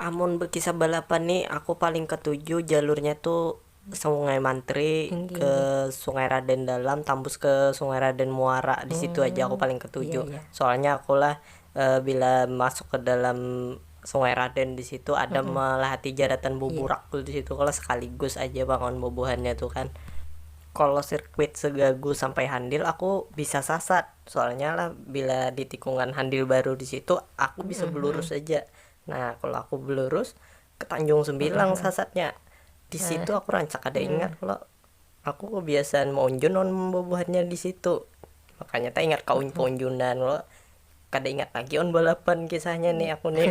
Amun bekisah balapan ni aku paling ketuju jalurnya tu sungai mantri ke sungai raden dalam tambus ke sungai raden muara disitu aja aku paling ketuju soalnya aku lah bila masuk ke dalam sungai raden disitu ada melahati jaratan buburak tu disitu kalo sekaligus aja pang wan bubuhannya tu kan kalo sirkuit segagu sampai handil aku bisa sasat Soalnya lah bila di tikungan handil baru di situ aku bisa belurus aja nah kalo aku belurus ke tanjung sembilang sasatnya di situ aku rancak kada ingat kalo aku kebiasaan maunjun lawan bubuhannya di situ makanya taingat kaunjunan kalo kada ingat lagi wan balapan kisahnya nih aku nih.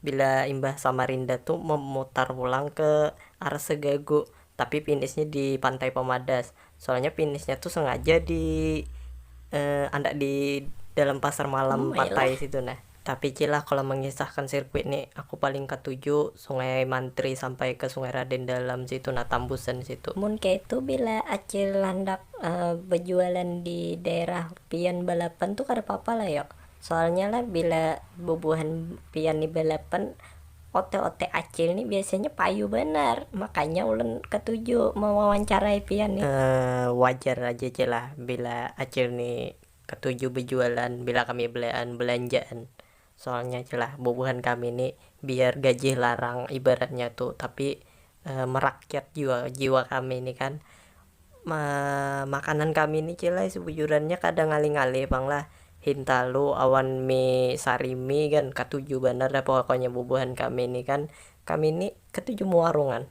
Bila imbah Samarinda tu memutar pulang ke arah Segagu, tapi finishnya di Pantai Pemadas. Soalnya finishnya tu sengaja di andak di dalam pasar malam Patai situ nah. Tapi cil lah kalau mengisahkan sirkuit ni, aku paling katuju Sungai Mantri sampai ke Sungai Raden Dalam situ nah, tambusan situ. Mun kaitu bila acil handak bejualan di daerah pian balapan tu kada papa lah yo. Soalnya lah bila bubuhan pian ni balapan ote-ote acil ni biasanya payu banar, makanya ulun katuju mewawancarai pian ni. Wajar aja ja lah bila acil ni katuju bejualan bila kami belean belanjaan, soalnya ja lah bubuhan kami ni biar gajih larang ibaratnya tu tapi merakyat jua jiwa kami ni kan. makanan kami ni cil ai sebujurannya kada ngalih-ngalih pang lah, hintalu awan mie sarimi kan katuju banar dah pokoknya bubuhan kami ni kan, kami ni ketuju mewarungan.